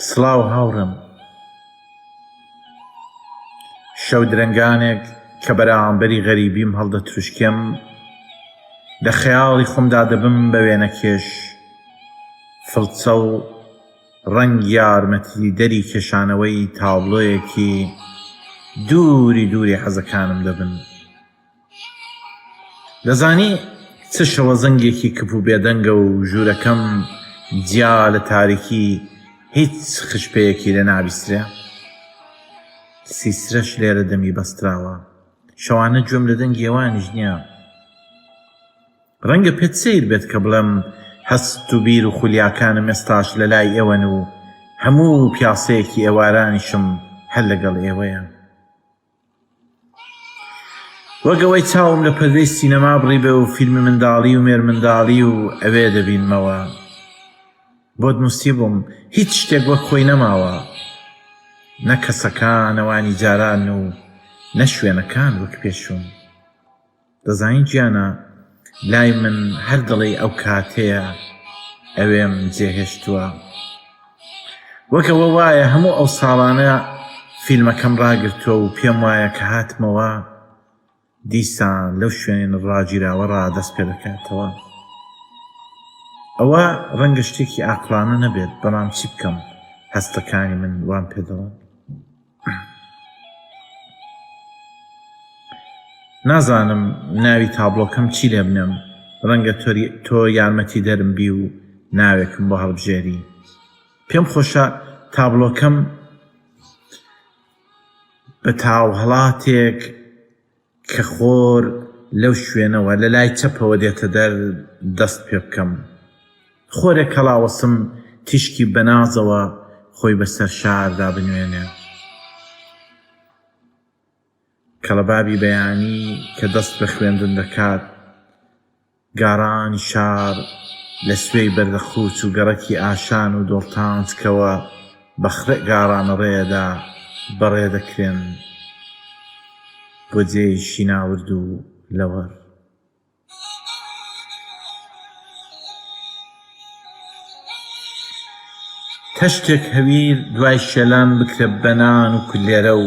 سڵاو هاوڕێم شەو درەنگانێک کە بەرامبەری غەریبیم هەڵدەتروشکێم لە خەیاڵی خۆمدا دەبم بە وێنەکێش فڵچە و ڕەنگ یارمەتی دەری کێشانەوەی تابلۆیەکی دووری دووری حەزەکانم دەبن دەزانی چ شەوە زەنگێکی کپ و بێدەنگە و ژوورەکەم جیا لە تاریکی هیچ خشپەیەکی لێ نابیسترێ. سیسرەش لێرە دەمی بەستراوە. شەوانە گوێم لە دەنگی ئەوانیش نییە. ڕەنگە پێت سەیر بێت کە بڵێم هەست و بیر و خولیاکانم ئێستاش لە لای ئێوەن و هەموو پیاسەیەکی ئێوارانیشم هەر لەگەڵ ئێوەیە. وەک ئەوەی چاوم لە پەردەی سینەما بڕیبێ و فیلمی منداڵی و مێرمنداڵی و ئەوێ دەبینمەوە. بۆت نووسیبووم هیچ شتێک وەک خۆی نەماوە، نە کەسەکان ئەوانی جاران و نە شوێنەکان وەک پێشوو. دەزانی گیانە لای من هەر دەڵێی ئەو کاتەیە ئەوێم جێهێشتووە وەک ئەوە وایە هەموو ئەو ساڵانە فیلمەکەم ڕاگرتووە و پێم وایە کە هاتمەوە دیسان لەو شوێن ڕاگیراوە ڕادەست پێ دەکاتەوە ئەوە ڕەنگە شتێکی ئاقلانە نەبێت بەڵام چی بکەم هەستەکانی من وام پێدەڵێن نازانم ناوی تابڵۆکەم چی لێ بنێم ڕەنگە تۆ یارمەتی دەرم بی و ناوێکم بۆ هەڵبژێری پێم خۆشە تابلۆکەم بە تاوهڵاتێک کە خۆر لەو شوێنەوە لە لای چەپەوە دێتە دەر دەست پێ بکەم. خۆرێک هەڵاوەسم تیشکی بە نازەوە خۆی بە سەر شاردا بنوێنێ. کەڵەبابی بەیانی کە دەست بە خوێندن دەکات، گاران شار لە سوێی بەردەخووچ و گەڕەکی ئاشان و دۆڵتانج کەوە بە خڕێ گاران ڕێدا بە ڕێ دەکرێن بۆ جێی شیناورد و لەوەر. تەشتێک هەویر دوای شێلان بکرە بە نان و کولێرە و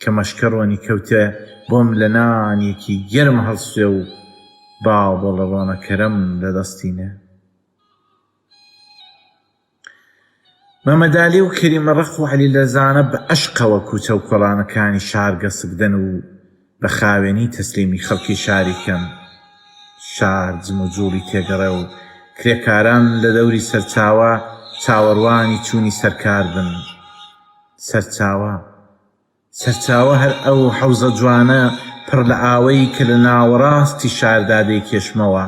کە مەشکە ڕۆنی کەوتە بۆم لە نانێکی گەرم هەڵسوێ و باڵبۆڵە ڕۆنەکەرەم لە دەستی نێ. مەمەدالی و کەریمە ڕەق و عەلی لەرزانە بە ئەشقەوە کوچە و کۆڵانەکانی شار گەسک دەن و بە خاوێنی تەسلیمی خەڵکی شاری کەم شار جموجوڵی تێگەڕێ و کرێکاران لە دەوری سەرچاوە چاوەڕوانی چوونی سەرکار بن. سەرچاوە. سەرچاوە هەر ئەو حەوزە جوانە پڕ لە ئاوەی کە لە ناوەڕاستی شاردا دەیکێشمەوە.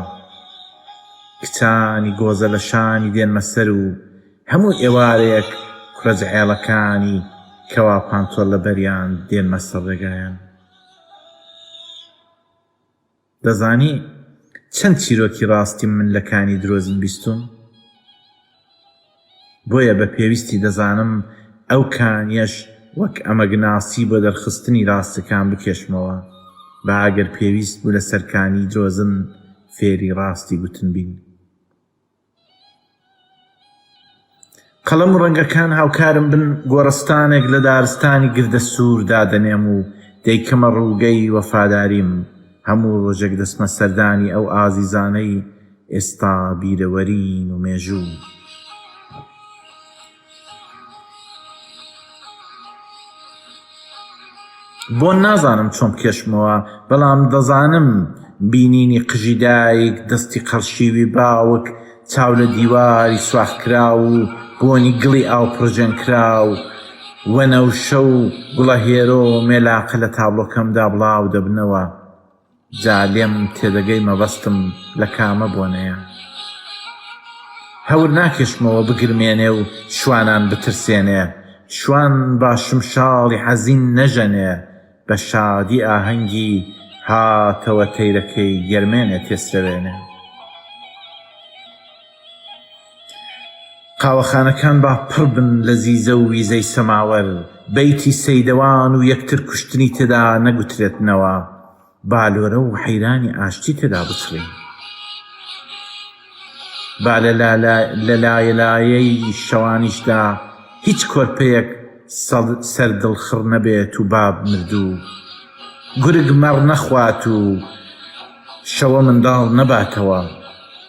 کچانی گۆزە لە شانی دێنمە سەر و، هەموو ئێوارەیەک کوڕە زعێڵەکانی کەوا پانتۆڵ لەبەریان دێنمە سەر ڕێگایان دەزانی چەند چیرۆکی ڕاستی من لە کانی درۆزین بیستوم بۆیە بە پێویستی دەزانم ئەو کانیەش وەک ئەمەگناسی بۆ دەرخستنی ڕاستەکان بکێشمەوە با ئەگەر پێویست بوو لە سەرکانی درۆزن فێری ڕاستی گوتن بین قەڵەم و ڕەنگەکان هاوکارم بن گۆڕستانێک لە دارستانی گردە سوور دادەنێم و دەیکەمە ڕووگەی وەفاداریم هەموو ڕۆژێک دەچمە سەردانی ئەو ئازیزانەی ئێستا بیرەوەرین و مێژوو بۆن نازانم چۆن بکێشمەوە بەڵام دەزانم بینینی قژی دایک دەستی قەرشیوی باوک چاو لە دیواری سوراخکراو و بۆنی گڵی ئاو پڕژێنکراو وەنەوشە و گوڵەهێرۆ و مێلاقە لە تابڵۆکەمدا بڵاودەبنەوە. جا لێم تێدەگەی مەبەستم لە کامە بۆنەیە هەور ناکێشمەوە بگرمێنێ و شوانان بترسێنێ شوان با شمشاڵی حەزین نەژەنێ بە شادی ئاهەنگی هاتەوە تەیرەکەی گەرمێنێ تێسرەوێنێ. قاوەخانەکان با پڕ بن لە زیزە و ویزەی سەماوەر، بەیتی سەیدەوان و یەکتر کوشتنی تێدا نەگوترێتنەوە، با لۆرە و حەیرانی ئاشتی تێدا بچڕین. با لە لایەلایەی شەوانیشدا هیچ کۆرپەیەک سەر دڵخڕ نەبێت و با مردوو گورگ مەڕ نەخوات و شەوە منداڵ نەباتەوە.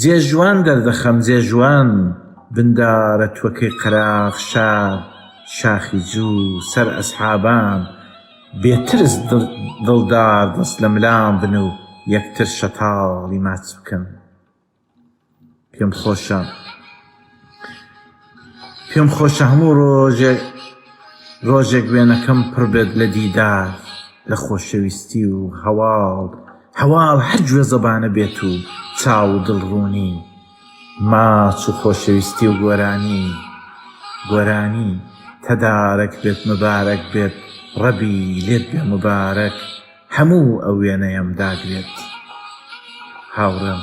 جێ ژوان دەردەخەم جێ ژوان بندارە توەکەی قەراغ شار شاخی جوو سەر ئەسحابان بێ ترس دڵدار دەست لە ملان بن و یەکتر شەتاڵی ماچ بکەن پێم خۆشە پێم خۆشە هەموو ڕۆژێک ڕۆژێک وێنەکەم پڕ بێت لە دیدار لە خۆشەویستی و هەواڵ هەواڵ هەر گوێزەبانە بێت و چاو و دڵ ڕوونی ماچ و خۆشەویستی و گۆرانی گۆرانی تدارک بێت مبارەک بێت ڕەبی لێت بێ مبارەک. هەموو ئەو وێنەیەم داگرێت هاوڕێم.